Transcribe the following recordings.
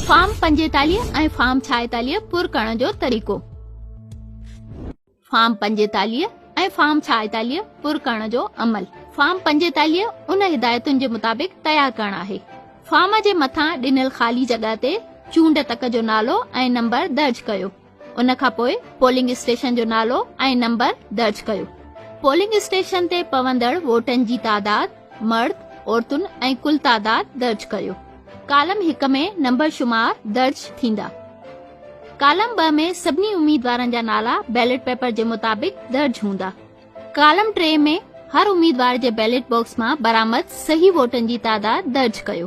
Form پنجيتاليهه ۽ form ڇاهيتاليهه پر ڪرڻ جو طريقو فارم پنجيتاليهه ۽ فارم ڇاهيتاليهه پر ڪرڻ جو عمل فارم پنجيتاليهه ان هدايتن جي مطابق تيار ڪرڻ آهي فارم جي مٿان ڏنل خالي جڳهه تي چونڊ تڪ جو نالو ۽ نمبر درج ڪيو ان کان پوء پولنگ اسٽيشن جو نالو ۽ نمبر درج ڪيو. پولنگ اسٽيشن تي پوندڙ ووٽن جي تعداد، مرد، عورتن ۽ ڪل تعداد درج ڪريو. ڪالم هڪ ۾ نمبر شمار درج ٿيندا. ڪالم ٻه ۾ سڀني اميدوارن جا نالا بيلٽ پيپر جي مطابق درج هوندا. ڪالم ٽي ۾ هر اميدوار جي بيلٽ باڪس مان برآمد صحيح ووٽن جي تعداد درج ڪيو.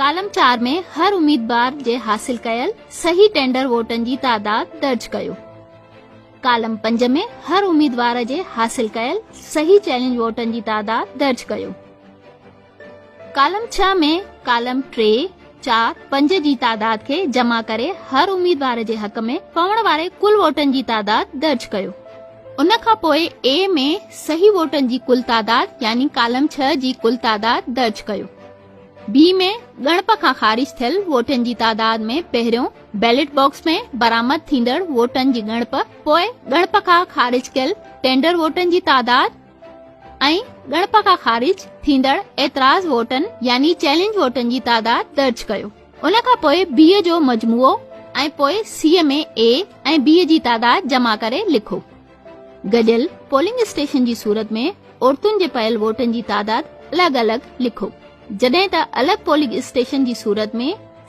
ڪالم چار ۾ هر اميدوار جي حاصل ڪيل صحيح ٽينڊر ووٽن جي تعداد درج ڪيو ڪالم پنج ۾ هر اميدوار جي حاصل ڪيل صحيح چيلنج ووٽن جي تعداد درج ڪيو ڪالم ڇهه ۾ ڪالم ٽي چار پنج جي تعداد کي جمع ڪري هر اميدوار جي حق ۾ پوڻ واري ڪل ووٽن جي تعداد درج ڪيو ان کان پوء اي ۾ صحيح ووٽن جي ڪل تعداد يعني ڪالم ڇهه جي ڪل تعداد درج ڪيو بي ۾ ڳڻپ کان خارج ٿيل ووٽن جي تعداد ۾ پهريون بيلٽ باڪس ۾ برآمد ٿيندڙ ووٽن جي ڳڻپ پوء ڳڻپ کان خارج ڪيل ٽينڊر ووٽن جي تعداد ۽ ڳڻپ کان خارج ٿيندڙ اعتراض ووٽن يعني چئلينج ووٽن جي تعداد درج ڪيو ان کان پوء بي جو مجموعو ۽ پوء سي ۾ اي ۽ بي جي تعداد جمع ڪري لکو گڏيل پولنگ اسٽيشن جي صورت ۾ عورتن جي پيل ووٽن جي تعداد الڳ الڳ لکو جڏهن ته الڳ پولنگ اسٽيشن جي صورت ۾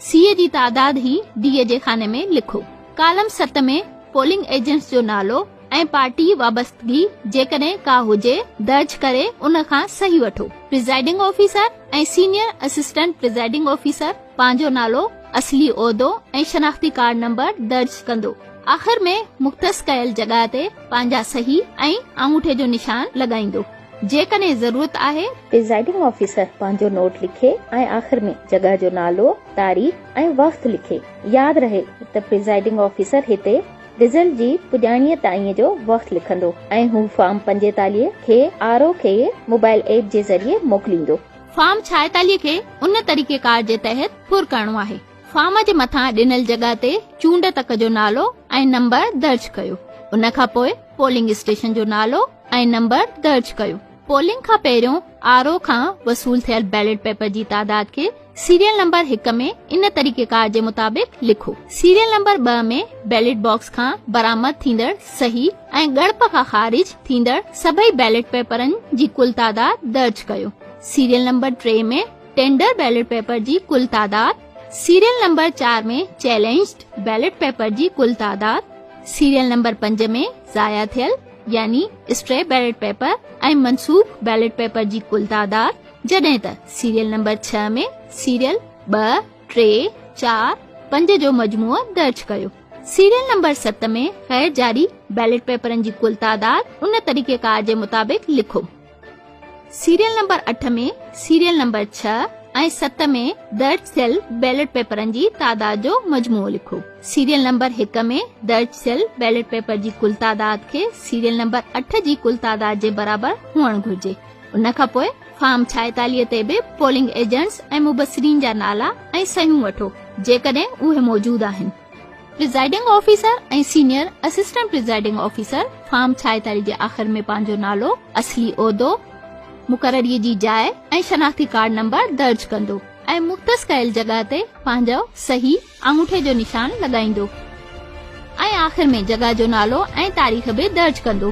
سي جي تعداد هي ڊي جي خاني ۾ لکو ڪالم ست ۾ پولنگ ايجنٽس جو نالو ۽ پارٽي وابستگي جيڪڏهن ڪا هجي درج ڪري ان کان صحيح وٺو presiding officer ۽ senior assistant presiding officer پنهنجو نالو، اصلي عهدو ۽ شناختي ڪارڊ نمبر درج ڪندو. آخر ۾ مختص ڪيل جڳهه تي پنهنجا صحيح ۽ آڱوٺي جو نشان لڳائيندو. جيڪڏهن ضرورت آهي. پريزائيڊنگ آفيسر پنهنجو نوٽ لکي ۽ آخر ۾ جڳهه جو نالو، تاريخ ۽ وقت لکي. ياد رهي ته پريزائيڊنگ آفيسر هتي رزلٽ جي پڄاڻيء تائين جو وقت لکندو ۽ هو فارم پنجيتاليهه کي آر او کي موبائيل ايپ جي ذريعي موڪليندو. فارم ڇائيتاليهه کي ان طريقيڪار جي تحت پر ڪرڻو آهي. فارم جي مٿان ڏنل جڳهه تي چونڊ تڪ جو نالو ۽ نمبر درج ڪيو. ان کان پوء پولنگ اسٽيشن جو نالو ۽ نمبر درج ڪيو. پولنگ کان پهريون آر او کان وصول ٿيل بيلٽ پيپر جي تعداد کي سيريل نمبر هڪ ۾ ان طريقيڪار جي مطابق لکو. سيريل نمبر ٻه ۾ بيلٽ باڪس کان برآمد ٿيندڙ صحيح، ۽ ڳڙپ کان خارج ٿيندڙ سڀئي بيلٽ پيپرن جي ڪل تعداد درج ڪيو. سيريل نمبر ٽي ۾ ٽينڊر بيلٽ پيپر جي ڪل تعداد، سيريل نمبر چار ۾ چئلينجڊ بيلٽ پيپر جي ڪل تعداد، سيريل نمبر پنج ۾ ضايع ٿيل يعني اسٽري بيلٽ پيپر ۽ منسوخ بيلٽ پيپر جي ڪل تعداد، جڏهن ته سيريل نمبر ڇهه ۾ سيريل ٻه، ٽي، چار، پنج جو مجموعو درج ڪيو. سيريل نمبر ست ۾ غير جاري بيلٽ پيپرن جي ڪل تعداد ان طريقي ڪار جي مطابق لکو سيريل نمبر اٺ ۾ سيريل نمبر ڇهه ۽ ست ۾ درج ٿيل بيلٽ پيپرن جي تعداد جو مجموعو لکو سيريل نمبر هڪ ۾ درج ٿيل بيلٽ پيپر جي ڪل تعداد کي سيريل نمبر اٺ جي ڪل تعداد جي برابر هئڻ گهرجي ان کان پوء فارم ڇائيتاليهه تي به پولنگ ايجنٽس ۽ مبصرين جا نالا ۽ صحيحون وٺو جيڪڏهن اهي موجود آهن. Presiding officer ۽ senior assistant presiding officer form ڇائيتاليهه جي آخر ۾ پنهنجو نالو، اصلي عهدو، مقرريء جي جاء ۽ شناختي ڪارڊ نمبر درج ڪندو ۽ مختص ڪيل جڳهه تي پنهنجو صحيح، آڱوٺي جو نشان لڳائيندو ۽ آخر ۾ جڳهه جو نالو ۽ تاريخ به درج ڪندو.